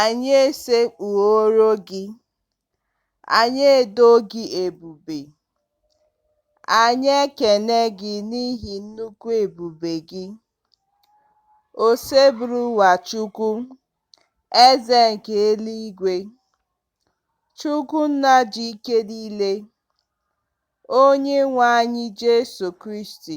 Anyị esekpuoro gị, anyị edo gị ebube, anyị ekene gị n'ihi nnukwu ebube gị. Oseburuwa Chukwu, Eze nke eluigwe, Chukwu Nna ji ike niile, Onyenwe anyị Jesu Kristi,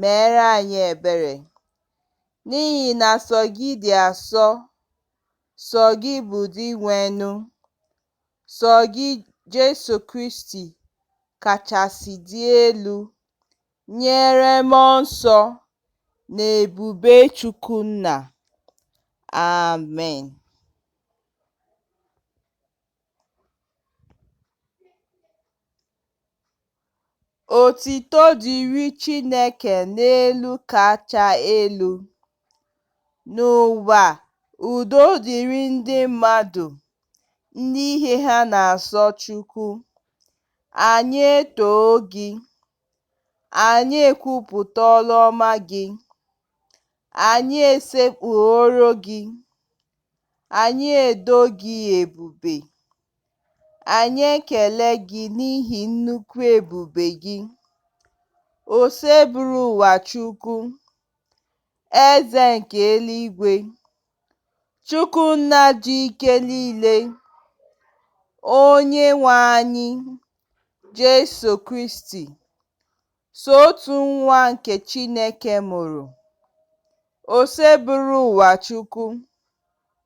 meere anyị ebere, n'ihi na sọ gị dị asọ, sọ gị bụ Dinwenụ, sọ gị Jesu Kristi kachasị dị elu, nyere mmụọ nsọ na ebube Chukwu Nna. Amen. Otito dịrị Chineke n'elu kacha elu, N'ụwa, udo dịrị ndị mmadụ, Ndị ihe ha na-asọ Chukwu. Anyị etoo gị, Anyị ekwupụta ọlụ ọma gị, Anyị esekpuoro gị, Anyị edo gị ebube. Anyị ekele gị n'ihi nnukwu ebube gị, Oseburuụwa Chukwu, Eze nke eluigwe, Chukwu nna ji ike niile, onye nwe anyị, Jesu Kristi, sọ otu nwa nke Chineke mụrụ, Oseburuụwa Chukwu,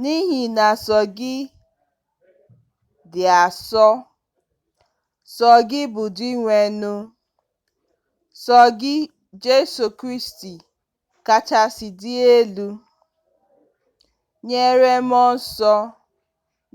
N'ihi na sọ gị dị asọ, sọ gị bụ Dinwenụ, sọ gị Jesu Kristi kachasị dị elu, nyere mmụọ nsọ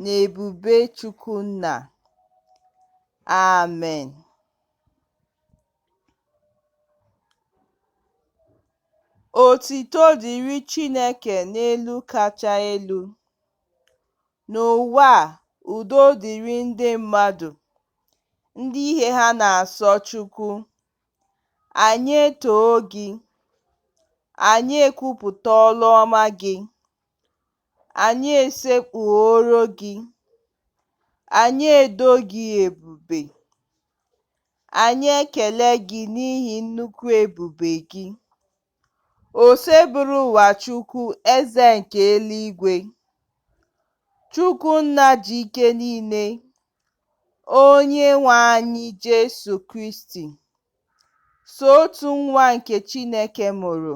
na ebube Chukwu Nna. Amen. Otito dịrị Chineke n'elu kacha elu, n'ụwa udo dịrị ndị mmadụ, ndị ihe ha na-asọ Chukwu. Anyị etoo gị, anyị ekwupụta ọlụ ọma gị. Anyị esekpuoro Gị, anyị edo Gị ebube, anyị ekele Gị n'ihi nnukwu ebube Gị. Oseburuụwa Chukwu Eze nke eluigwe, Chukwu Nna ji ike niile, Onye nwe anyị Jesu Kristi, sọ otu nwa nke Chineke mụrụ.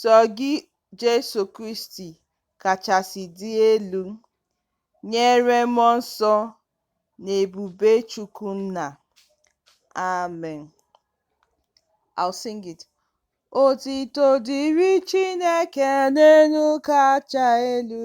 Sọ gị Jesu Kristi kachasị dị elu, nyere mmụọ nsọ na ebube Chukwu Nna. Amen. I'll sing it. Otito dịrị Chineke n'elu kacha elu.